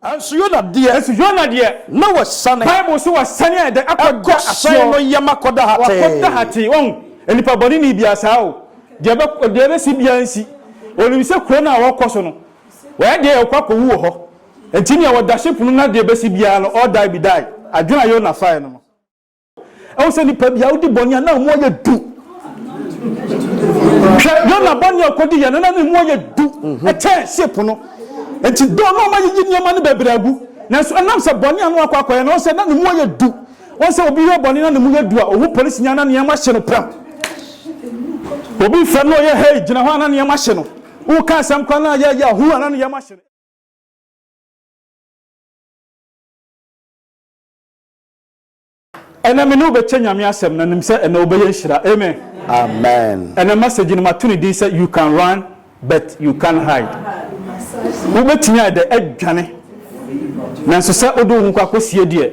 Nanso Yona deɛ. Nanso Yona deɛ. Na wasiane. Bible se wasiane ayɛ dɛ akɔ da aseɛ. Ɛkɔ hyɛn no yam akɔ da hatee. Wakɔ da hatee. Wahu? Nnipa bɔne ni bia saa o. Deɛ ɛbɛ, deɛ ɛbɛsi bia nsi. Onim sɛ kuro no a ɔrekɔ so no, wayɛ deɛ ɔkɔ akɔwu wɔ hɔ. Nti nea ɔda ship no na deɛ ɛbɛsi biara no, all die be die. Adwene a Yona faeɛ no no. ɛwɔ sɛ nipa bi a wodi bɔne a na mu ayɛ du hwɛ yona bɔne a ɔkɔdi yɛ no na ne mu ayɛ du ɛkyɛ ship no nti dɔɔ na ɔma yiyi nneɛma no bɛbrɛ agu nanso ɛnam sɛ bɔne a no akɔ akɔyɛ no sɛ na ne mu ayɛ du wɔn sɛ obi yɛ bɔne na ne mu yɛ du a ɔhu polisi nya na nneɛma hye no pram obi fam na ɔyɛ hei gyina hɔ a na nneɛma hye no woka asɛm kora no a yɛyɛ ɔhu a na nneɛma hye no Ɛnɛ me ne wo bɛkyɛ Nyame asɛm na nim sɛ ɛnɛ wo bɛyɛ nhyira Amen. Amen. Ɛnɛ message no mato ne din sɛ you can run but you can't hide. Wo bɛtumi ayɛ dɛ adwane nanso sɛ wode wo ho kɔ akɔ sie deɛ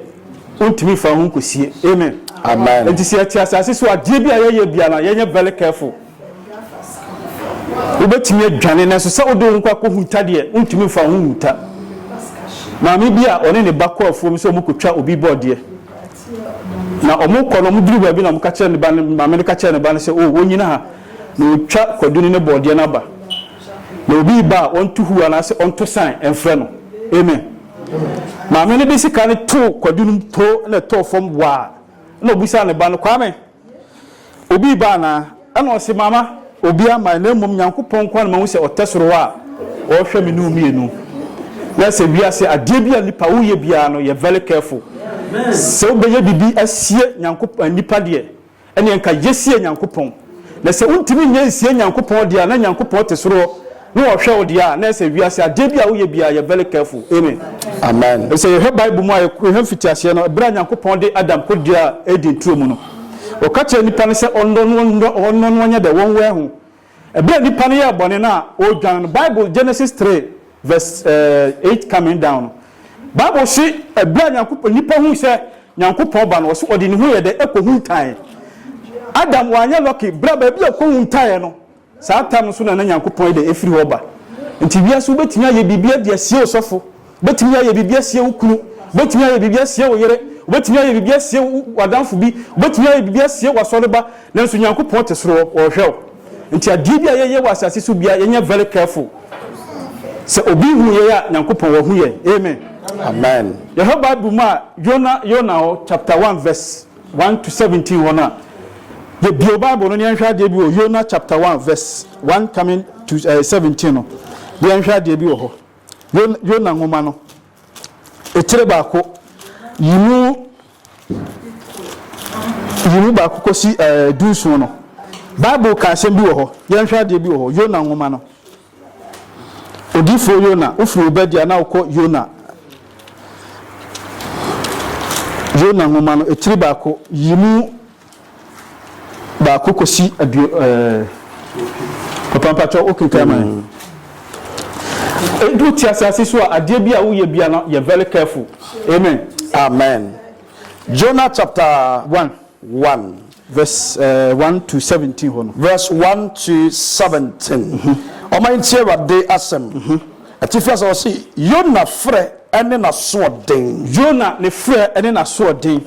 wo ntumi nfa wo ho nkɔ sie Amen. Amen. Enti sɛ yɛte asase so adeɛ bi a yɛyɛ biara yɛnyɛ very careful. Wobɛtumi adwane nanso sɛ wode wo nkwa kɔhuta deɛ, wontumi mfa wo ho nhuta. Maame bi a ɔne ne ba kɔ afuom sɛ wɔkɔtwa obi bɔɔdeɛ. Na wɔkɔ no, wɔduru baabi na wɔka kyerɛ ne ba no, maame no ka kyerɛ ne ba no sɛ, o, wɔnnyina ha na wɔtwa Kwadu ne ne bɔɔdeɛ no aba. Na obi reba a, ɔnto huo anaasɛ ɔnto san mfrɛ no. Amen. Maame no de sika no too Kwadu no mu too na ɛtɔɔ fam waa. Na ɔbisaa ne ba no, Kwame, Obi reba anaa? Ɛna ɔse, Mama, obiara mmae, na mmom Nyankopɔn nko ara na mahu sɛ ɔtɛ soro hɔ a ɔrehwɛ me ne wo mmienu. Na ɛsɛ wiase adeɛ bi a nnipa woyɛ biara no yɛ very careful. Sɛ wobɛyɛ biribi asie Nyankopɔn, nnipa deɛ, ɛneɛ nka yɛsie Nyankopɔn. Na sɛ wontumi nyɛ nsie Nyankopɔn deɛ a, na Nyankopɔn te soro hɔ. Ne ɔhwɛ wo deɛ a na ɛsɛ wiase adeɛ bi a woyɛ biara yɛ very careful amen amen ɛsɛ yɛhwɛ bible mu a yɛhwɛ mfitiaseɛ no ɛberɛ a nyankopɔn de adam kɔdua eden turo mu no ɔka kyerɛ nipa no sɛ ɔnnɔ no ɔnnɔ no ɔnyɛ dɛ wɔn wɛn ho ɛberɛ a nipa no yɛ bɔne no a ɔredwan no bible genesis 3 verse 8 eh, coming down no bible se ɛberɛ a nyankopɔn nipa hu sɛ nyankopɔn ba no ɔse ɔde ne ho yɛ dɛ ɛkɔ hu ntaeɛ adam wanyɛ lɔke berɛ a baabi a ɛkɔ hu ntaeɛ no Saa tam no so na na Nyankopɔn yɛ dɛ afiri hɔ ba. Nti wiase wobɛtumi ayɛ biribiara de asie wo sɔfo, wobɛtumi ayɛ biribi asie wo kunu, wobɛtumi ayɛ biribi asie wo yere, wobɛtumi ayɛ biribi asie w'adamfo bi, wobɛtumi ayɛ biribi asie w'asɔreba, nanso Nyankopɔn te soro hɔ, ɔrehwɛ wo. Nti adeɛ bi a yɛyɛ wɔ asase so biara yɛnyɛ very careful. Sɛ obi hu yɛn a, Nyankopɔn wahu yɛn. Amen. Amen. Yɛhwɛ Bible mu a, Yona, Yona hɔ chapter one verse. 1–17 hɔ no a, yɛbio Bible no na yɛnhwɛ adeɛ bi wɔ Yona chapter 1 verse 1 coming to 17 no, na yɛnhwɛ adeɛ bi wɔ hɔ. Yona nwoma no, etire baako, yi mu yi mu baako kɔsi ɛɛ dunsuo no, Bible ka asɛm bi wɔ hɔ, yɛnhwɛ adeɛ bi wɔ hɔ, Yona nwoma no. Odiyifoɔ Yona, wofiri Obadia na wokɔ Yona. Yona nwoma no, etiri baako, yi mu baako kɔsi aduo ɛɛ papa mpakyɛw wokenkan ma yɛn. Edu ti asase so a, adeɛ bi a woyɛ bia no, yɛ very careful. Amen. Amen. Jonah chapter. One. one verse one to seventeen hɔ no. Verse one to seventeen, Wɔma yɛntie Awurade asɛm, atifi asɛm, ɔse, Yona frɛ ne n'asoɔden. Yona ne frɛ ne n'asoɔden.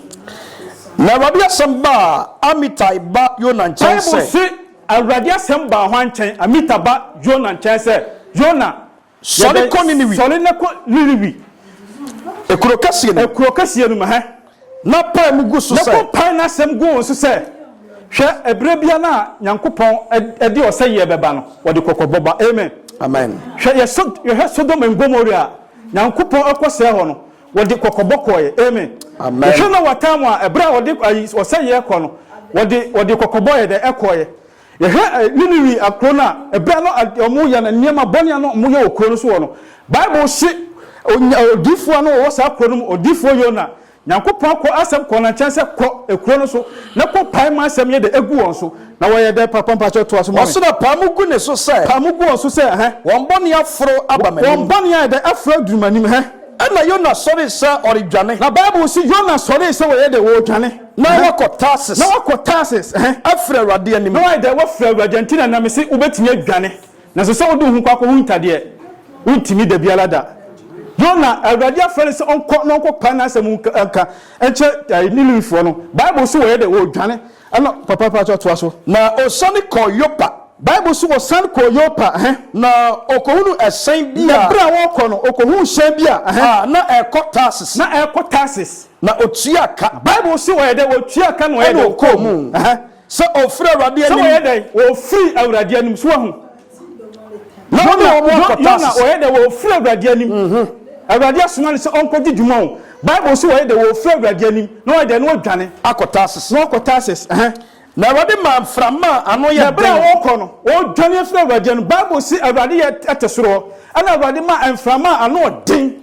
Na Awurade asɛm baa Amitai ba Yona nkyɛn sɛ. Bible se, Awurade asɛm baa hwan nkyɛn? Amitai ba Yona nkyɛn sɛ, Yona, Sɔre kɔ Niniwi. Sɔre na kɔ Niniwi. Ekuro kɛseɛ no mu. Ekuro kɛseɛ no mu hɛ. Na pae mu gu so sɛ. Na kɔ pae n'asɛm gu wɔn so sɛ. Hwɛ, ɛberɛ biara no a Nyankopɔn de ɔsɛeɛ bɛba no, ɔde kɔkɔbɔ ba. Amen. Amen. Hwɛ, yɛ so, yɛhwɛ Sodom and Gomorrah a Nyankopɔn ɛkɔ sɛe hɔ no, wɔde kɔkɔbɔ kɔɔɛ. Amen. Amen. Yɛhwɛ Noah time a ɛberɛ a ɔde ayi ɔsɛeɛ kɔ no, wɔde wɔde kɔkɔbɔ yɛ dɛ ɛkɔɔɛ. Yɛhwɛ Niniwi akuro no a, ɛberɛ no a wɔyɛ no nneɛma bɔne a na wɔyɛ wɔ kuro no so hɔ no, Bible se onya, odiyifoɔ a na ɔwɔ saa kuro no mu, odiyifoɔ Yona, Nyankopɔn akɔ asɛm kɔɔ no nkyɛn sɛ, Kɔ akuro no so na kɔ pae ma asɛm yɛ dɛ agu wɔn so. Na wɔyɛ dɛ papa? Mpakyɛw toa so ma me. Ɔso na pae mu gu ne so sɛ. Pae mu gu wɔn so sɛ, ɛhɛ. Wɔn bɔne aforo aba m'anim. Wɔn bɔne ayɛ dɛ aforo aduru m'anim, ɛhɛ. Ɛnna Yona sɔree sɛ ɔredwane. Na Bible se Yona sɔree sɛ ɔyɛ dɛ ɔredwane. Na woakɔ Tarsis. Na woakɔ Tarsis. Afiri Awurade anim. Na woayɛ dɛ woafiri Awurade nti na na mese wobɛtumi adwane, nanso sɛ wode wo ho kɔ akɔhunta deɛ, worentumi da biara da. Yona, Awurade afrɛ no sɛ ɔnkɔ na ɔnkɔpae n'asɛm mu nka nkyerɛ Niniwefoɔ no. Bible se wɔyɛ dɛ wɔredwane. Ɛna papa pa kyɛw toa so. Na ɔsiane kɔɔ Yopa. Bible se wɔsan kɔɔ Yopa. Na ɔkɔhunuu ɛhyɛn bi a. Na berɛ a wɔrekɔ no, ɔkɔhuu hyɛn bi a. A na ɛrekɔ Tarsis. Na ɛrekɔ Tarsis. na otuaa ka. Bible se wɔyɛ dɛn? Wɔtuaa ka na wɔyɛ dɛn? Wɔkɔɔ mu. Sɛ ɔfiri Awurade anim. Sɛ wɔyɛ dɛn? Wɔfiri Awurade anim. So wahu? Na wɔne wɔn akɔ Tarsis. Yona wɔyɛ dɛn? Wɔfiri Awurade anim. Awurade asoma no sɛ ɔnkɔgye dwuma o. Bible se wɔyɛ dɛn? Wɔfiri Awurade anim. Na wɔyɛ dɛn? Na wɔadwane. Akɔ Tarsis. Na wɔkɔ Tarsis. Na Awurade maa mframa a ano yɛ den. Na berɛ a wɔrekɔ no, wɔredwane afiri Awurade anim. Bible se Awurade yɛ te soro hɔ, ɛnna Awurade maa mframa a ano yɛ den.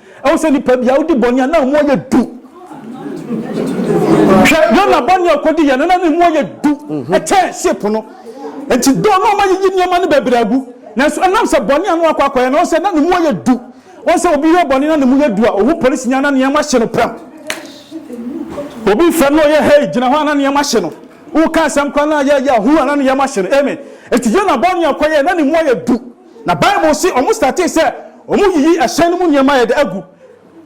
Ɛwɔ sɛ nipa bi a odi bɔne a na mu ayɛ du. Hwɛ Yona bɔne a ɔkɔdi yɛ no na ne mu ayɛ du ɛkyɛn ship no. Nti dɔɔ na ɔma yiyi nneɛma no bebree agu. Nanso ɛnam sɛ bɔne a na wakɔ akɔyɛ no, ɔn sɛ na ne mu ayɛ du. Wɔn sɛ obi yɛ bɔne na ne mu yɛ du a, ohu polisi ni a na nneɛma hye no pram. Obi fɛm na ɔyɛ hɛi gyina hɔ a na nneɛma hye no. Woka asɛm koraa na yɛyɛ a hu a na nneɛma hye no. Amen. Nti Yona bɔne a ɔkɔyɛ na ne mu ayɛ du. Na bible se ɔmo startee sɛ ɔmo yiyi ɛhyɛn no mu nneɛma a yɛde agu.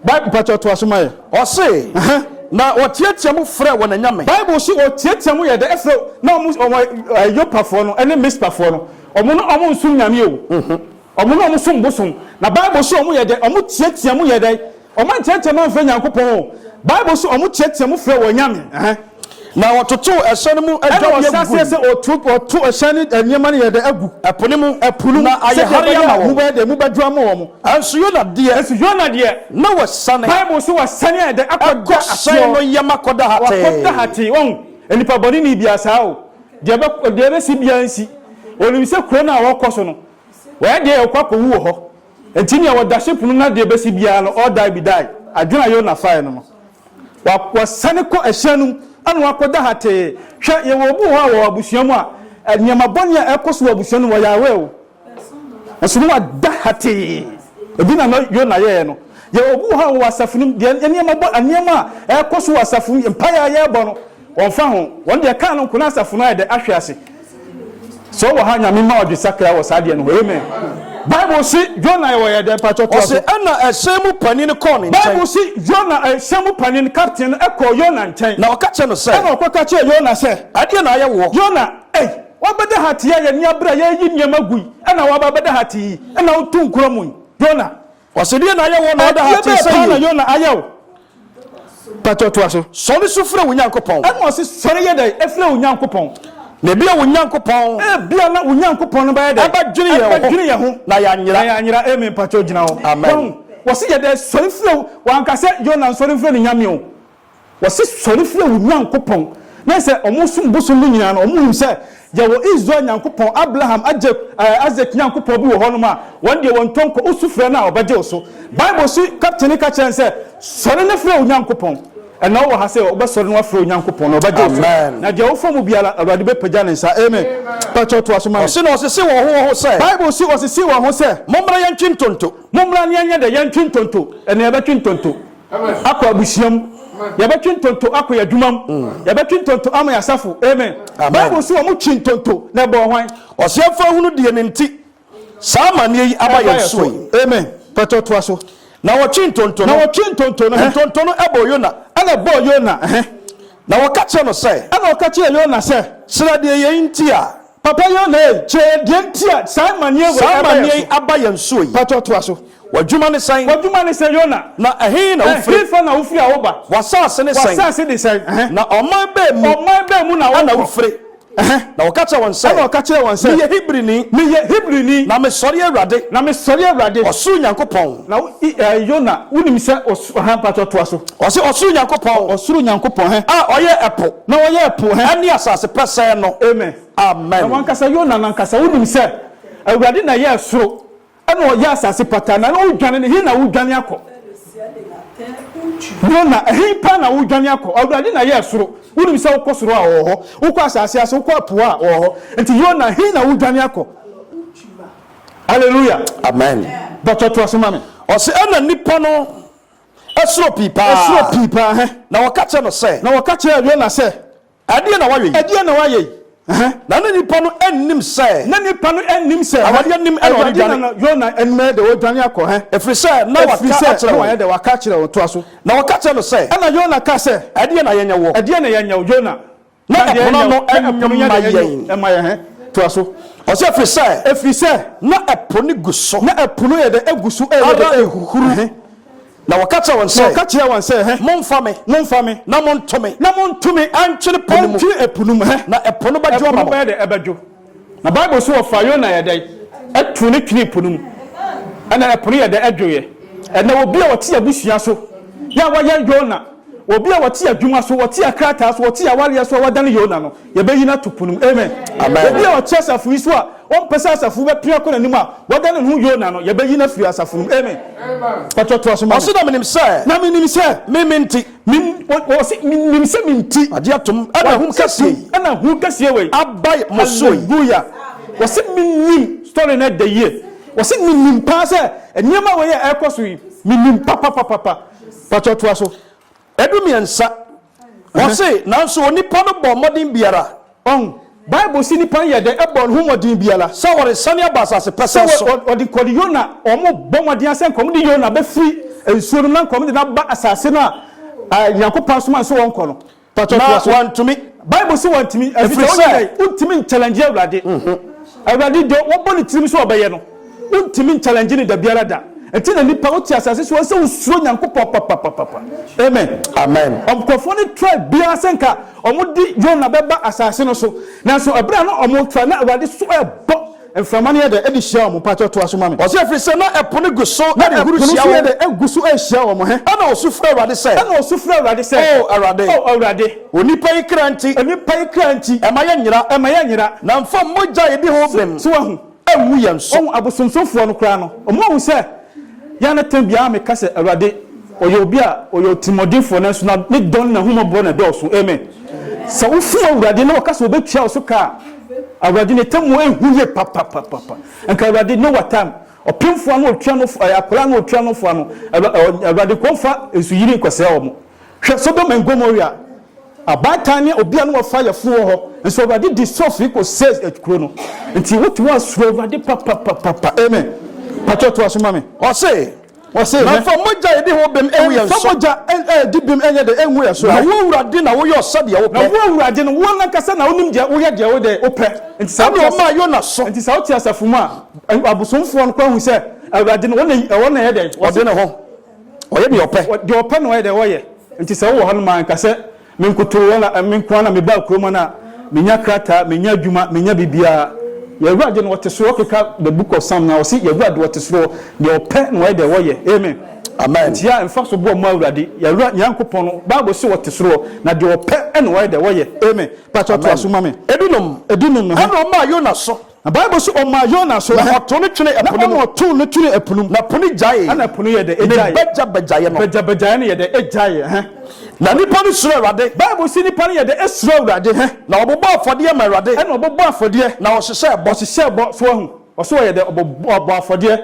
Bible mpakyɛw toa so ma yɛn. Ɔse, Na wɔteatea mu frɛɛ wɔn anyame. Bible se wɔteatea mu yɛde frɛ na ɔmo ɔmo Yopafoɔ no ne Mispafoɔ no ɔmo no ɔmo nsom Nyame o ɔmo no ɔmo som bosom na bible se ɔmo yɛdɛ ɔmo teatea mu yɛdɛ Wɔn nteɛteɛm amfrɛ Nyankopɔn o. Bible nso wɔn teɛteɛm frɛ wɔn nyame. Ɛhɛn. Na wɔtotow ɛhyɛn no mu Ɛna adwadeɛ wɔhyɛ aseɛ gui. sɛ wɔto wɔto ɛhyɛn no nneɛma no yɛ dɛ agu Ɛpo no mu. ɛpo no mu Na ayɛ sɛdeɛ hare ɛbɛyɛ ama a wɔn. emu bɛyɛ dɛ emu bɛdwo ama wɔn. Nanso Yona deɛ, Nanso Yona deɛ, na wasiane. Bible nso wasiane ayɛ dɛ akɔda Ɛkɔ hyɛn asoɔ. no yam akɔda hatee. Wakɔda hatee. Wahu? Nnipa bɔneni biara saa o. Deɛ ɛbɛ deɛ ɛbɛsi biara nsi. Onim sɛ kuro no a ɔrekɔ so no, wayɛ deɛ yɛ ɔkɔ akɔwu wɔ hɔ. Enti nea wɔda hyɛ punu no adeɛ bɛsi biara no, ɔɔ die bi die. Adwene a Yona faeɛ no no, wa, wasane kɔ ɛhyɛn no mu na wakɔda hatee. Hwɛ, yɛwɔ obi wɔ hɔ a wɔ abusua mu a, nneɛma bɔne a ɛrekɔ so wɔ abusua no mu, ɔyɛ aware o, nanso na wada hatee. Ɛbi na na Yona yɛeɛ no. Yɛwɔ obi wɔ hɔ a wɔ asafo no mu, deɛ nneɛma bɔ, nneɛma a ɛrekɔ so wɔ asafo mu, mpaeɛ a yɛrebɔ no, Wɔmfa ho, wɔn deɛ kaa no nko na asafo no ayɛ dɛ ahwe ase. Sɛ ɔwɔ ha Nyame ma ɔdwe sakra wɔ saa deɛ no ho amen. Bible se Yona ɛwɔ yɛ dɛn mpakyɛ toa so. Ɔse ɛna ɛhyɛn mu panin kɔɔ ne nkyɛn. Bible se Yona ɛhyɛn mu panin, captain, no ɛkɔɔ Yona nkyɛn. Na ɔka kyerɛ no sɛ. Ɛna ɔkɔ ka kyerɛ Yona sɛ. Ɛdeɛ na ayɛ woɔ. Yona, ei, wabɛda ha te yi a yɛn ani abere a yɛreyi nneɛma gu yi ɛna waba abɛda ha te yi ɛna wotu nkuro mu yi. Yona. Ɔse deɛ na ayɛ woɔ na ɔda ha tee sɛ yei. Ɛdeɛ bɛɛ paa na Yona ayɛ wo? Mpakyɛw toa so. Sɔre su frɛ wo Nyankopɔn. Ɛna ɔse sɔre yɛ dɛn frɛ wo Nyankopɔn. Na ebia wo Nyankopɔn. Ebia na wo Nyankopɔn no bɛyɛ dɛn. Ɛbɛdwene yɛn ho. Ɛbɛdwene yɛn ho. Na yɛanyera. Na yɛanyera amen mpakyɛw gyina hɔ. Amen. Wahu? Wɔse yɛ dɛn sɔre frɛ wo. Wanka sɛ Yona nsɔre mfrɛ ne Nyame o. Wɔse sɔre frɛ wo Nyankopɔn, na sɛ ɔmo som bosom no nyinaa no, ɔmo nim sɛ yɛwɔ Israel Nyankopɔn, Abraham, Agyep, ɛɛ Isaac Nyankopɔn bi wɔ hɔ nom a, wɔn deɛ wɔntɔ nkɔ, wo su frɛ no a ɔbɛgye wo so. Bible so kapten no ka kyerɛ no sɛ, Sɔre na frɛ wo Nyankopɔn. Ɛnna wowɔ ha sɛ wobɛsɔre na woafrɛ wo Nyankopɔn, na ɔbɛgye wo so. Na deɛ wofrɛ mu biara, Awurade bɛpagya ne nsa. Amen. Pakyɛw toa so ma me. Ɔse na ɔsese wɔn ho wɔn ho sɛ. Bible se ɔsese wɔn ho sɛ. Mommra yɛntwe ntonto. Mommra na yɛnyɛ dɛ? Yɛntwe ntonto. Ɛnna yɛbɛtwe ntonto. Akɔ abusua mu. Yɛbɛtwe ntonto akɔ yɛn adwuma mu. Yɛbɛtwe ntonto ama yɛn asafo. Amen. Bible se wɔn twee ntonto na ɛbɔɔ hwan? Ɔseɛmfo ahunu deɛ ne nti saa amaneɛ yi aba yɛn soɔ yi. Amen. Pɛtɔ toa so. Na wɔtwe ntonto no. Na wɔtwe ntonto no. Ntonto no bɔɔ Yona. Ɛna ɛbɔɔ Yona. Na wɔka kyerɛɛ no sɛ. Ɛna wɔka kyerɛɛ Yona sɛ. Srɛ deɛ yei nti a. Papa Yonhee, kyerɛ yɛn deɛ nti a saa amaneɛ wei Saa ɛba amaneɛ yɛn yi so. aba yɛn soɔ yi. Patɔ toa so. W'adwuma ne sɛn? W'adwuma ne sɛn, Yona? Na ɛhe na wofire? Ɛhefa na wofiri a woba? W'asase ne sɛn? W'asase ne sɛn? Ɛhɛ. Na ɔman bɛn mu? Ɔman bɛn mu na wokɔ? Na wofire? Ɛhɛ. Na ɔka kyerɛɛ wɔn sɛ. Ɛna ɔka kyerɛɛ wɔn sɛ. Meyɛ Hebrini. Meyɛ Hebrini. Na mesɔre Awurade. Na mesɔre Awurade. Ɔsoro Nyankopɔn. Na wo, i, ɛɛ, Yona, wonim sɛ ɔsoro. Ɔhɛ mpatsɔ toa so. Ɔse ɔsoro Nyankopɔn. Ɔ ɔsoro Nyankopɔn hɛ. A ɔyɛ ɛpo. Na ɔyɛ ɛpo hɛ. Ɛne asase pɛsɛɛ no. Amen. Amen. Na wankasa Yona nankasa wonim sɛ Awurade na ɛyɛɛ soro ɛna ɔyɛ asase pataa na wo dwane no he na wo dwane akɔ? Yona ɛhe paa na wo dwane akɔ? Awurade na ɛyɛɛ soro wonim sɛ wokɔ soro a ɔwɔ hɔ wokɔ asase ase wokɔ ɛpo a ɔwɔ hɔ nti Yona he na wo dwane akɔ? Hallelujah. Amen. Dɔkta to aso ma me. Ɔse ɛna nipa no ɛsoro pii paa. Ɛsoro pii paa hɛ. Na wɔka kyerɛ no sɛ. Na wɔka kyerɛ Yona sɛ. Ɛdeɛ na wayɛ yi. Ɛdeɛ na wayɛ yi. Na na nipa no ɛnnim sɛ. Na nipa no ɛnnim sɛ. Awurade ɛnim ɛna ɔde dwane. Na Yona ɛnim ɛyɛ dɛ ɔdwane akɔ hɛ. Ɛfiri sɛ na waka akyerɛ wɔn. Ɛfiri sɛ na wayɛ dɛ waka akyerɛ wɔn to aso. Na wɔka kyerɛ no sɛ. Ɛna Yona ka sɛ. Ɛdeɛ na yɛnyɛ wɔ. Ɛdeɛ na yɛnyɛ wɔ Yona. Na ɛpono no nyɛ ɛpono nyɛ mma deɛ ɛnyɛ yɛn. ɛma yɛn. Hɛn, toa so. Ɔse ɛfiri sɛ. Ɛfiri sɛ. Na ɛpo no gu so. Na ɛpo no yɛ dɛ egu so ɛyɛ dɛ ɛhuru. Hɛn. Na wɔka kyerɛɛ wɔn sɛ. Na ɔka kyerɛɛ wɔn sɛ. Hɛn. Monfa me. Monfa me. Na monto me. Na monto me ɛntwene po no mu. Ɛntwene ɛpo no mu. Hɛn. Na ɛpo no bɛdwo ama mo. Ɛpo no bɛyɛ dɛ ɛbɛdwo. Na Bible se wɔfaa Yona yɛ dɛn? Too no twenee po no mu. Ɛna ɛpo no yɛ dɛn? Ɛdwoeɛ. Ɛnɛ obi a ɔte abusua so yɛ a wayɛ Yona, obi a ɔte adwuma so, ɔte akrataa so, ɔte awareɛ so a wadane Yona no, yɛbɛyi no ato po no mu. Amen. Obi a ɔte asafo yi so a ɔmpɛ sɛ asafo yi bɛpia kɔ n'anim a wadane ne ho Yona no, yɛbɛyi no afiri asafo no mu. Amen. Mpakyɛ toa so ma me. Ɔse, Na menim sɛ. Na menim sɛ. Me me nti. Min, wɔse, Menim sɛ me nti. Agye atom, ɛna hom kɛse yi. Ɛna hom kɛseɛ wei. Abae mo so yi. Hallelujah! Wɔse, Menim story no ɛdɛ yie. Wɔse, Menim paa sɛ nneɛma wei a ɛrekɔ so yi, menim papapapapa. Pakyɛ toa so. Ɛdu mmiɛnsa. Wɔse, Nanso onipa no bɔɔ mmɔden biara. Ɔn, Bible se nipa no yɛ dɛ bɔ neho mmɔden biara sɛ ɔresane aba asase pɛsɛɛ so. Sɛ wɔde nkɔne Yona a, wɔbɔ mmɔden ara sɛ nka wɔde Yona bɛfiri nsuo no mu na nka wɔde no aba asase no a Nyankopɔn somae no so wɔnkɔ no. Mpakyɛ toa so. Na wɔantumi. Bible se wɔantumi, ɛfiri sɛ wɔnyɛ dɛn? Wontumi nkyɛlɛngye Awurade. Awurade deɛ wɔbɔ ne tirim sɛ wɔbɛyɛ no. Wontumi nkyalɛngye no dabiara da. Ɛnti na nnipa wote asase so a sɛ wosuro Nyankopɔn papapapapa. Amen. Amen. Nkurɔfoɔ no try biara sɛ nka wɔde Yona bɛba asase no so. Nanso ɛberɛ a na wɔretry na Awurade so rebɔ, mframa no yɛ dɛ de hyia wɔn. Mpakyɛw toa so ma me. Ɔse ɛfiri sɛ na ɛpo no gu so Na ɛpo no rehyia nso yɛ wɔn. dɛ ɛgu so rehyia wɔn. Hɛ? Ɛna ɔsu frɛɛ Awurade sɛ, Ɛna ɔsu frɛɛ Awurade sɛ, O Awurade, O Awurade, onipa yi kra nti, onipa yi kra nti, ɛma yɛnyera, ɛma yɛnyera. na mfa mogya a ɛdi ho bem. So wahu? anwu yɛn so. Wɔn abosonsomfoɔ no koraa no, wɔahu sɛ yɛn ano tene biara meka sɛ, Awurade, ɔyɛ obi a ɔyɛ ɔtirimuɔdenfoɔ, nanso na ne dɔ ne n'ahummɔborɔ na ɛdɔɔso. Amen. Sɛ wofu Awurade na wɔka sɛ wɔbɛtua wo so ka a, Awurade, n'atemmuo nhu yie papapapapa. Anka Awurade, ne wa time, ɔpemfoɔ ano ɔtua no, akwadaa ano ɔtua no fo ano, Awurade, nkɔmfa nsu yiri nkɔsɛe wɔn. Hwɛ Sodom and Gomorrah. Abaatan ne obia ne wɔfa yɛfo wɔ hɔ, nso Awurade di so firi kɔ says at kuro no. Nti wo te hɔ a suro Awurade papapapapa. Amen. Patrɔ toa so ma me. Ɔse, Ɔse, Na mfa mogya edi ho bem engu yɛn so. Mfa mogya edi bem enyɛ dɛ engu yɛn so. Na wo Awurade na woyɔ sɛdeɛ wo pɛ. Na wo Awurade no, wo nankasa na wonim deɛ woyɛ deɛ wo dɛ wo pɛ. Nti sɛ wote ase, nti sɛ wote asafo mu a, abosomfoɔ no kɔ ahu sɛ Awurade no, ɔna ɛyɛ dɛ? Ɔde ne ho. Ɔyɛ deɛ ɔpɛ. Ɔ, deɛ ɔpɛ na ɔyɛ dɛ ɔyɛ. Nti sɛ wowɔ hɔnom a, nka sɛ me nkotoo a, me nko ara na mebaa kurom ha no a, menya krataa, menya adwuma, menya biribiara. Yɛn Awurade no, Ɔte Soro, keka The Book of Psalm no a, ɔse, Yɛn Awurade Ɔte Soro, deɛ ɔpɛ na ɔyɛ dɛ ɔyɛ. Amen. Amen. Nti yɛ a, mfa so boa mma Awurade. Yɛn Awurade Nyankopɔn no, Bible se Ɔte Soro, na deɛ ɔpɛ na ɔyɛ dɛ ɔyɛ. Amen. Pakyɛ toa so Amen. ma me. Ebinom, Ebinom, ɛhe? ɛna ɔmaa Yona so. Na Bible se ɔmaa Yona so ɛ. Na ɔtoo no twenee ɛpo no mu. Na ɔma ɔtoo no twenee ɛpo no mu. Na ɛpo no gyaee. Ɛna ɛpo no yɛɛ dɛ? Egyaee. Ne bɛgyabɛgyaeɛ no. Bɛgyabɛgyaeɛ no yɛɛ dɛ? Egyaeɛ. Hɛ. Na nnipa no suroo Awurade. Bible se nnipa no yɛɛ dɛ? Esuroo Awurade. Hɛ. Na wɔbobɔɔ afɔdeɛ maa Awurade. Ɛna wɔbɔbɔɔ afɔdeɛ. Na wɔhyehyɛɛ bɔ. Wɔhyehyɛɛ bɔ. So wahu? Ɔse wɔyɛɛ dɛ? Wɔbɔɔ afɔdeɛ.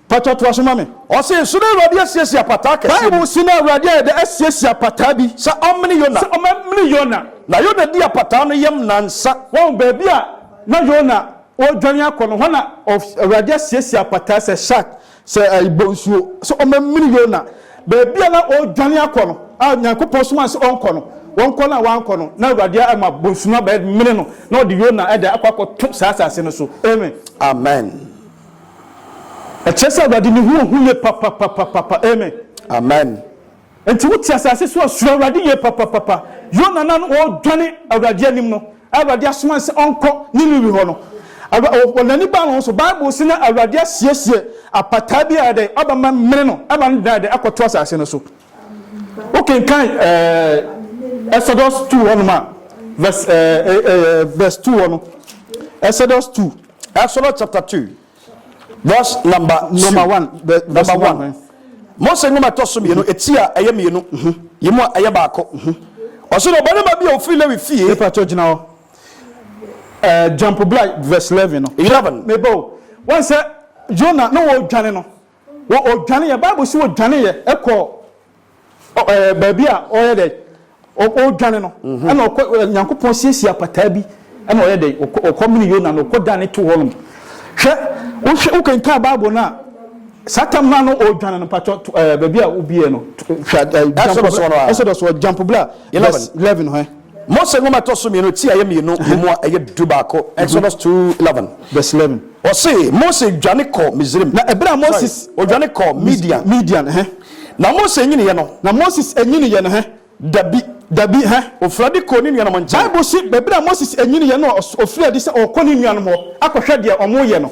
Pakyɛ toa so ma me. Ɔsee, So na Awurade asiesie apataa kɛseɛ bi? Bible se na Awurade ayɛ dɛ asiesie apataa bi sɛ ɔmmene Yona. Sɛ ɔmmene Yona. Na Yona dii apataa no yam nnansa. Wahu baabi a na Yona ɔredwane akɔ no, hɔ na Awurade asiesie apataa sɛ shark, sɛ bonsuo, sɛ ɔmmene Yona. Baabi a na ɔredwane akɔ no, a Nyankopɔn somaa no sɛ ɔnkɔ no, ɔnkɔ no a wankɔ no, na Awurade ama bonsu no abɛmene no, na ɔde Yona de akɔ akɔto saa asase no so. Amen. Amen. Ɛkyerɛ sɛ Awurade ne ho ohu ye papapapapa. Amen. Amen. Enti wote asase so a, suro Awurade yie papapapa. Yona na na ɔredwane Awurade anim no, a Awurade asoma no sɛ ɔnkɔ Niniwe hɔ no, Awura, n'ani baa ne ho so. Bible se na Awurade asiesie apataa bi a ɛdɛ aba ma mene no ma no dan dɛ akɔto asase no so. Wokenkan ɛɛ Exodus two hɔnom a, verse ɛɛ verse two hɔ no, Exodus two. Exodus chapter two verse number two number one number one Mose nwoma ɛtɔ so mmienu eti a ɛyɛ mmienu yi mu a ɛyɛ baako ɔsɛ na ɔbarima bi a ofiri Lewi fie. Nipa kyɛ gyina hɔ ɛɛ jump bla verse eleven no. Eleven. Mebo wɔn sɛ Yona na wɔredwane no. Wɔ ɔdwaneeɛ, Bible se ɔdwaneeɛ kɔɔ baabi a ɔyɛ dɛ ɔdwane no, mhm. ɛna ɔkɔ Nyankopɔn siesie apataa bi ɛna ɔyɛ dɛ ɔkɔ mene Yona no ɔkɔ dan ne to hɔ nom. Hwɛ wohwɛ wokenkan Bible no a saa tam no a na ɔredwane no mpatwɔ baabi a wobiɛ no Exodus ɔjampo bla 11 hwɛ Mose Nwoma Ɛtɔ So Mmienu ti a ɛyɛ mmienu wɔ mu a ɛyɛ dubaako, Exodus two eleven, verse eleven, wɔse, Mose dwane kɔɔ Misraim, Na ɛberɛ a sorry, Moses, ɔdwane kɔɔ Mis, Midian. Midian, ɛhɛn. Na Mose nyiniiɛ no. Na Moses nyiniiɛ no, ɛhɛn. Dabi. Dabi, ɛhɛn. Ɔfirii adi kɔɔ ne nuanom nkyɛn. Bible se, ɛberɛ a Moses nyiniiɛ no, ɔfirii adi sɛ ɔrekɔ ne nuanom hɔ akɔhwɛ deɛ wɔreyɛ no.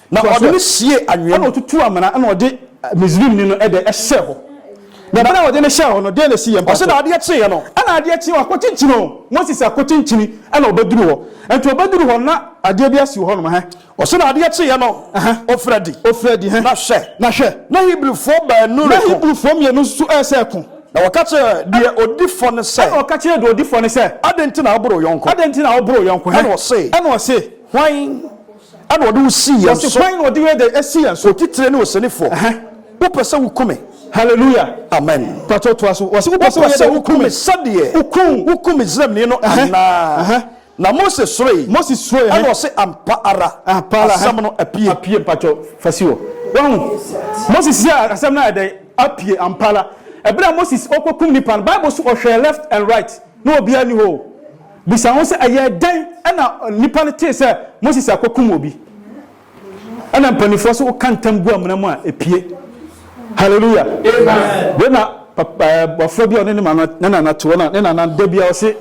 Na ɔde no siee anwea mu. Ɛnna ɔtutuu amena, ɛnna ɔde Misrimni no de hyɛɛ hɔ. Na bere a ɔde no hyɛɛ hɔ no, dɛn na esii yɛn mpapo? Ɔse, na adeɛ kyeeɛ no, ɛnna adeɛ kyeeɛ hɔ, akɔkyinkyini o, Moses akɔkyinkyini, ɛnna ɔbɛduruu hɔ. Ɛnti ɔbɛduruu hɔ no, na adeɛ bi asi wɔ hɔnom, ɛhɛn. Ɔse, na adeɛ kyeeɛ no, ɔfirii adi. Ɔfirii adi, ɛhɛn. Na hwɛ. Na hwɛ. Na Hebrifoɔ baanu reko. Na Hebrifoɔ mmienu nso resa reko. Na wɔka kyerɛɛ deɛ ɔdi fɔ no sɛ. Ɛnna ɔka kyerɛɛ deɛ ɔdi fɔ no sɛ. Adɛn nti na woboro wo yɔnko? Adɛn nti na woboro wo yɔnko, ɛhɛn. Ɛnna ɔse. Ɛnna ɔse. Hwan. Ɛna ɔde wo sii yɛn so. Wɔsi hwan na ɔde wei de asi yɛn so. Otitire ne osenifoɔ. Ɛhɛn. Wopɛ sɛ woku me. Hallelujah. Amen. Pato toa so. Wɔsi wopɛ sɛ woyɛ dɛ woku me. Sɛdeɛ. Wokum. Wokum Misraimni no anaa. Ɛhɛn. Na Mose suroe. Mose suroe. Ɛna ɔse ampa ara. Ampa ara. Asɛm no apue. Apue mpato fa si hɔ. Wahu. Mose si asɛm no ayɛ dɛ apue ampa ara. Ɛbere a Mose ɔkɔ kum nipa no Bible so ɔhwɛɛ left and right na obiara ni hɔ o. Bisa ho sɛ, 'Ɛyɛɛ dɛn na nnipa no tee sɛ Moses akokum obi? Ɛna mpanimfoɔ nso woka ntam gu amena mu a, ɛpue. Hallelujah! Wei na bɔfra bi a ɔne ne maame ne nana te hɔ na ne nana da bi a ɔse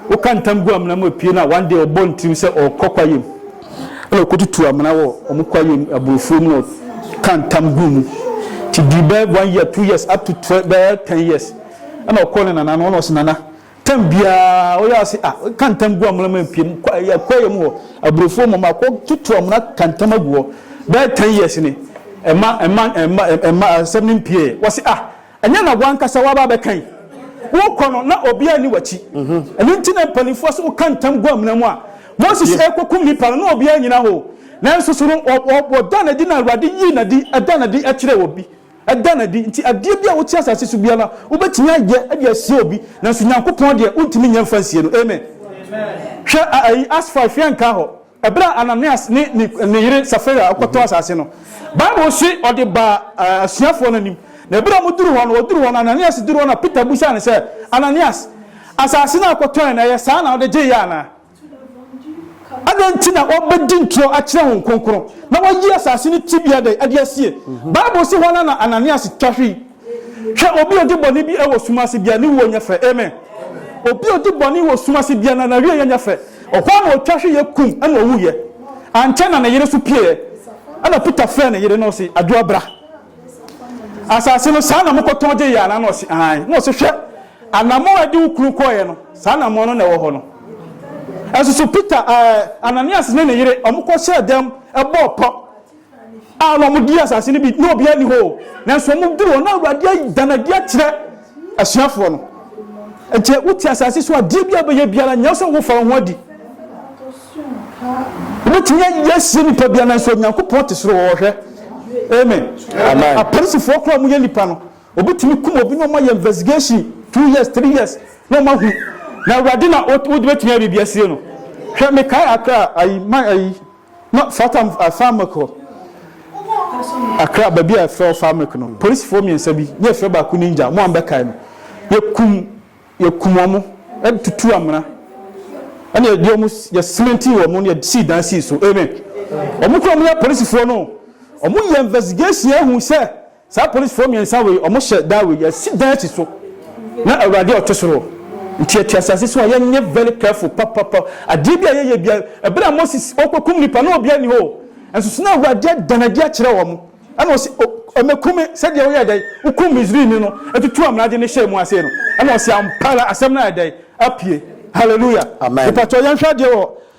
woka ntam gu amena mu ɛpue na one day ɔbɔ ntirim sɛ ɔkɔ kwayam ɛna ɔkɔtutu amena wɔ ɔmo kwayam aburofuo mu na ɔka ntam gu mu ti di bɛɛ one year two years up to bɛɛ ten years ɛna ɔkɔ ne nana no ɔna ɔse nana Tam biara ɔyɛ ase a, ɔka ntam gu amena mu mpiem, yɛ kwaeɛ mu hɔ, aburofuo mu, makɔ toto amena ka ntam agu hɔ, bɛyɛ ten years ni, ɛma, ɛma, ɛma, ɛma asɛm no mpieeɛ. Wɔse ah, ɛnyɛ na w'ankasa w'aba abɛka yi? Wokɔ no, na obiara nni w'akyi. Ɛno nti na mpanimfoɔ se woka ntam gu amena mu a, Moses rekɔkum nnipa no, na obiara nnyina hɔ o, nanso so no, ɔdaa no adi na Awurade yii no adi, ɛdaa no adi kyerɛɛ obi. Ɛda no adi. Nti adeɛ bi a wote asase so biara wobɛtumi ayɛ de asie obi, nanso Nyankopɔn deɛ wontumi nyɛ mfa nsie no. Amen. Hwɛ ayi Acts five yɛn nkaa hɔ. Ɛberɛ a Ananias ne ne ne yere Safira kɔtɔɔ asase no, Bible se ɔde baa asuafoɔ no anim. Na ɛberɛ a wɔduru hɔ no, ɔduru hɔ no, Ananias duru hɔ na Peter bisaa no sɛ, Ananias, asase no a wokɔtɔeɛ no, ɛyɛ saa na wode gyeeɛ anaa? Adɛn nti na wɔbɛdi ntorɔ akyerɛ Honhom Kronkron na wɔayi asase no tebea dɛn adi asie? Bible se hwan ara na Ananias twa hwe yi? Hwɛ, obi a ɔdi bɔne bi wɔ sum ase biara, ne wuo nyɛ fɛ. Amen. Obi a ɔdi bɔne wɔ sum ase biara no, n'awieeɛ nyɛ fɛ. Ɔhɔ ara na ɔtwa hweeɛ kum na ɔwuiɛ. Ankyɛ na ne yere nso pieeɛ. Ɛnna Peter frɛɛ ne yere na ɔse, Adwoa bra. Asase no, saa na mokɔtɔn gyee yɛn anaa? Na ɔse, Aane. Na ɔse, Hwɛ, anammɔn a ɛde wo kunu kɔeɛ no, saa anammɔn no na ɛwɔ hɔ no. Nso so Peter, ɛɛ, Ananias ne ne yere, wɔkɔhyɛɛ dɛm bɔɔ pɔ a na wɔdii asase no bi, na obiara nni hɔ o, nanso wɔduruu hɔ na Awurade ayi, da no adi akyerɛ. asuafoɔ no. Enti wote asase so adeɛ bi a bɛyɛ biara nyɛ sɛ wofa wo ho adi. Wobɛtumi ayɛ asie nipa biara nanso Onyankopɔn te soro ɔhwɛ. Amen. Amen. Apolisifoɔ koraa mo yɛ nipa no obɛtumi kum obi na ɔma yɛ investigation two years three years na ɔma hu na awurade na wode bɛtumi ayɛ biribi asie no. Hwɛ mekae akra ayi ma ayi. Na Fata Farmec hɔ, Accra, baabi a yɛfrɛ hɔ Farmec no, polisifo mmiɛnsa bi, na yɛfrɛ baako Ninja, mo a mobɛkae no, yɛkum, yɛkum wɔn, ɛna tutuu amena, ɛna yɛde wɔn, yɛsementii wɔn, na yɛsii dan sii so. Amen. Wɔn kura wɔn yɛ polisifoɔ no, wɔyɛ investigation ehu sɛ Saa polisfoɔ mmiɛnsa wei, wɔhyɛ da wei, yɛasi dan asi so na Awurade a ɔte soro nti yɛte asase so a yɛnyɛ very careful papapa. Adeɛ bi a yɛyɛ bia, ɛberɛ a Moses ɔrekɔkum nnipa na obiara nni hɔ o, nso so na Awurade ada no adi akyerɛ wɔn, ɛna ɔse ɔmɛku me sɛdeɛ woyɛɛ dɛn, wokum Misrini no, tutuu amena de no hyɛɛ mu ase no, ɛna ɔse ampa ara asɛm no ayɛ dɛn? Apue. Hallelujah. Amen. Mepatɔ yɛnhwɛ adeɛ wɔ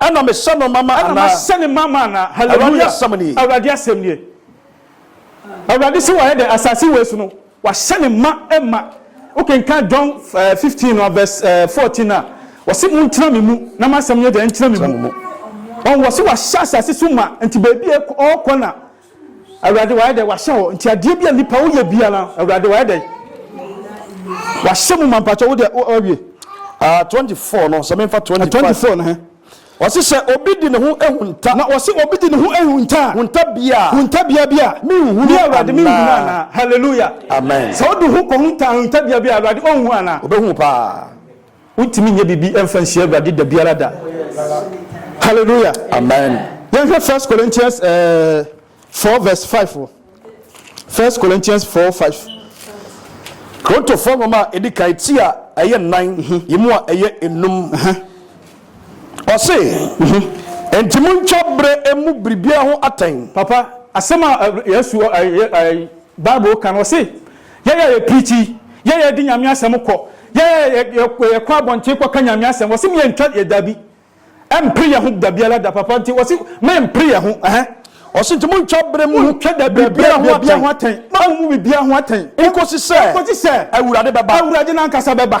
Ɛna mesɛ no mama anaa? Ɛna masɛ no mama anaa? Awurade asɛm nie. Awurade asɛm nie. Awurade se wayɛ dɛn? Asase wei so no, wahyɛ ne ma ma. Wokenkan John 15 no verse 14 a, wɔse montena me mu na m'asɛm nyɛ dɛn? Ntena me mu. Wɔn wɔse wahyɛ asase so ma, nti baabi a ɔrekɔ na Awurade, wayɛ dɛn? Wahyɛ hɔ nti adeɛ bi a nipa woyɛ biara, Awurade, wayɛ dɛn? Wahyɛ mu ma mpakyɛ wo deɛ wawie. Ah, 24 no, sɛ memfa 25. 24 no he. Wɔse sɛ obi de ne ho ehu nta. Na wɔse obi de ne ho ehu nta a. Hunta bia. Hunta bia bia. Menhunu anaa. Awurade menhunu anaa. Hallelujah. Amen. Sɛ wode ho kɔhunta hunta bia bia, Awurade ɔnhu anaa. Obehu paa. Wontumi nyɛ biribi mfa nsi Awurade da biara da. Hallelujah! Amen. Yɛnhwɛ First Corinthians eh, 4 verse 5 o. First Corinthians 4 5. Korintofoɔ nwoma a ɛdi kan ti a ɛyɛ nnan mhm. yi mu a ɛyɛ enum. Ɔse, mhm. enti montwa berɛ emu biribiara ho atɛn. Papa, asɛm a eh, Yesu, eh, eh, Bible ka no, ɔse, Yɛn a yɛ preachi, yɛn a yɛde Nyame asɛm kɔ, yɛn a yɛ kɔ abɔnten kɔ ka Nyame asɛm, wɔse me yɛ ntwa yɛ dabi, ɛmpre yɛ ho dabiala da, papa nti wɔse me mpre yɛ ho ɛhɛ. Ɔse nti mo ntwa bere mu ho biribiara ho atɛn, mo amu mu biribiara ho atɛn, nkosi sɛ Awurade bɛba. Awurade no ankasa bɛba.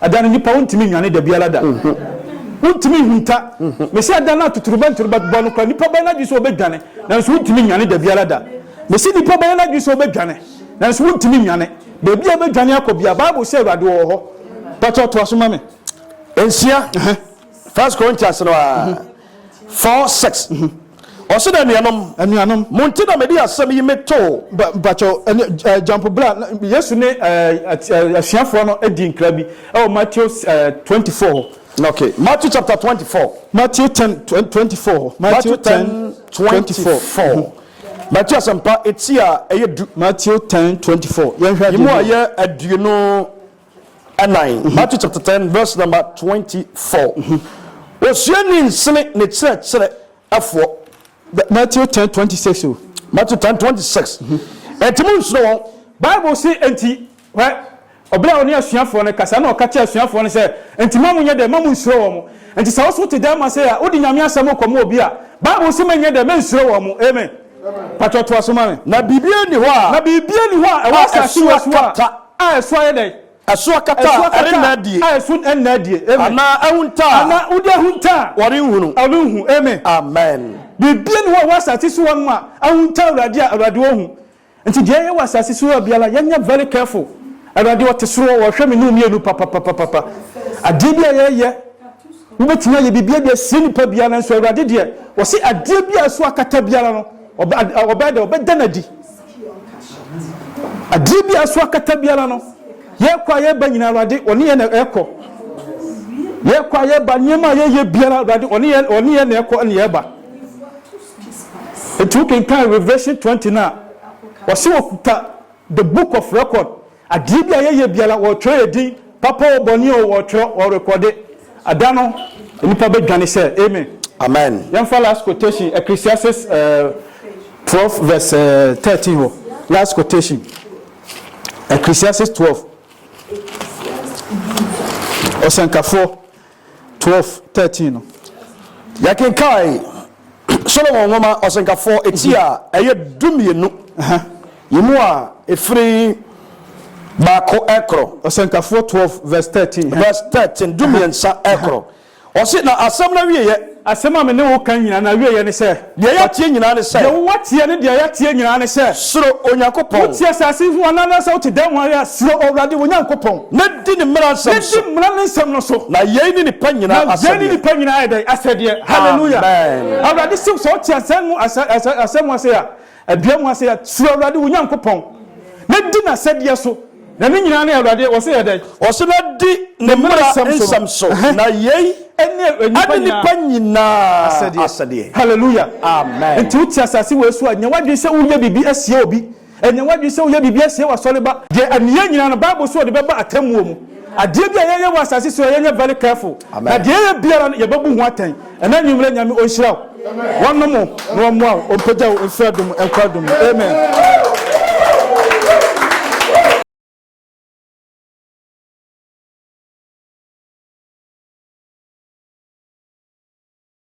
Adan nnipa wontumi nnwane da biara da. Wontumi nhunta. Mese adan no a totorobɛnto no bɛbɔ no koraa nnipa bɛyɛ n'adwene sɛ wɔbɛdwane nanso wontumi nnwane da biara da. Mese nnipa bɛyɛ n'adwene sɛ wɔbɛdwane nanso wontumi nnwane. Baabi a wobɛdwane akɔ biara Bible sɛ Awurade wɔ hɔ. Pakyɛ toa so ma me. Nsia. First Corinthians no ara four six. Ɔsi na anuanom. Anuanom. Mo nti na mede asɛm yi me too. Ba bakyɛ ɛne jampo bra Yesu ne asuafoɔ no di nkra bi ɛwɔ Matthew twenty four hɔ. Okay, Matthew chapter twenty four. Matthew ten twenty four hɔ. Matthew ten twenty four. Matthew asɛmpa eti a ɛyɛ du. Matthew ten twenty four. Yɛn hwɛ adi. Yɛn mu a yɛ aduonu. Ɛnnan, Matthew chapter ten verse number twenty four, Osuani nsene ne kyerɛkyerɛ ɛfoɔ. Matthew ten twenty six o. Matthew ten twenty six, Ɛnti mo nsuro wɔn. Bible se ɛnti, hwɛ, ɔbere a ɔne asuafoɔ no kasa na ɔka kyerɛ asuafoɔ no sɛ, ɛnti mma mo nyɛ dɛ, mma mo nsuro wɔn. Ɛnti sɛ wo nso wote dɛɛma sei a, wode Nyame asɛm rekɔma obi a, Bible se mɛnyɛ dɛ, mɛnsuro wɔn. Amen. Patrɔ toa so ma me. Na biribiara nni hɔ a. Na biribiara nni hɔ a ɛwɔ asase wɔ so a. A ɛso ayɛ dɛn? Ɛso akata a ɛrenna adie. A ɛso nna adie. Amen. Anaa ahunta a. Anaa wode ahunta a. Wɔrenhunu. Wɔrenhu. Amen. Amen. Biribiara nni hɔ a ɛwɔ asase so hɔnom a ahunta Awurade a Awurade ɔhu. Nti deɛ ɛyɛ wɔ asase so hɔ biara yɛnyɛ very careful. Awurade ɔte soro hɔ, ɔhwɛ me ne wo mmienu papapapapa. Adeɛ bi a yɛyɛ, wobɛtumi ayɛ biribiara de asie nipa biara nanso Awurade deɛ ɔse adeɛ bi a ɛso akata biara no, Ɔbɛyɛ dɛ ɔbɛda no adi. Adeɛ bi a ɛso akata biara no, yɛrekɔ a yɛreba nyinaa Awurade ɔne yɛn na ɛrekɔ. Yɛrekɔ a yɛreba nneɛma a yɛyɛ biara Awurade ɔne yɛn ɔne yɛn na ɛrekɔ ne yɛreba. Nti wokenkan Revelation twenty no a, wɔse wɔkuta the book of record Adeɛ bi a yɛyɛ biara wɔtwerɛ yɛ din, papa oo bɔne oo wɔtwerɛ, wɔrekɔde. Ɛda no nnipa bɛdwane sɛ, Amen. Amen. Yɛmfa last quotation, Ecclesiastes twelve verse thirteen hɔ, last quotation, Ecclesiastes twelve, Ɔsɛnkafoɔ. twelve, thirteen no. Yɛkenkan Solomon Nwoma Ɔsɛnkafo ti a ɛyɛ dumienu yi mu a ɛfiri baako rekɔ. Ɔsɛnkafoɔ twelve verse thirteen. Verse thirteen, dumiɛnsa rekɔ. Ɔse, na asɛm no awieɛ. Asɛm a me ne wo ka nyinaa no awieɛ ne sɛ. Deɛ yɛateɛ nyinaa ne sɛ. Deɛ wo ateɛ ne deɛ yɛateɛ nyinaa ne sɛ. Suro Onyankopɔn. Wote asase ho anaa anaasɛ wote dan mu ara a, suro Awurade wo Nyankopɔn. Na di ne mmara nsɛm so. Na di mmara no nsɛm no so. Na yei ne nnipa nyinaa asɛdeɛ. Na yei ne nnipa nyinaa yɛ dɛn? Asɛdeɛ. Hallelujah. Amen. Awurade se sɛ wote asɛm mu ase a. Adua mu asɛyɛ, Suro Awurade wo Nyankopɔn, na di n'asɛdeɛ so. Na ne nyinaa ne Awurade, ɔse yɛ dɛn? Ɔse na di ne mmara nsɛm so, na yei ne nnipa nyinaa asɛdeɛ. Hallelujah! Amen! Enti wote asase wei so a, nya w'adwene sɛ woreyɛ biribi asie obi. Nya w'adwene sɛ woreyɛ biribi asie w'asɔre ba. Deɛ ɛne yɛn nyinaa no, Bible se ɔde bɛba atemmuo mu. Adeɛ bi a yɛyɛ wɔ asase so yi, yɛnyɛ very careful, na deɛ yɛyɛ biara no, yɛbɛbu ho atɛn. Ɛnɛ anwummerɛ Nyame ɔnhyira wo, wɔnom wo na ɔmmoa wo, ɔmpagya wo mfiri adom nkɔ adom mu. Amen.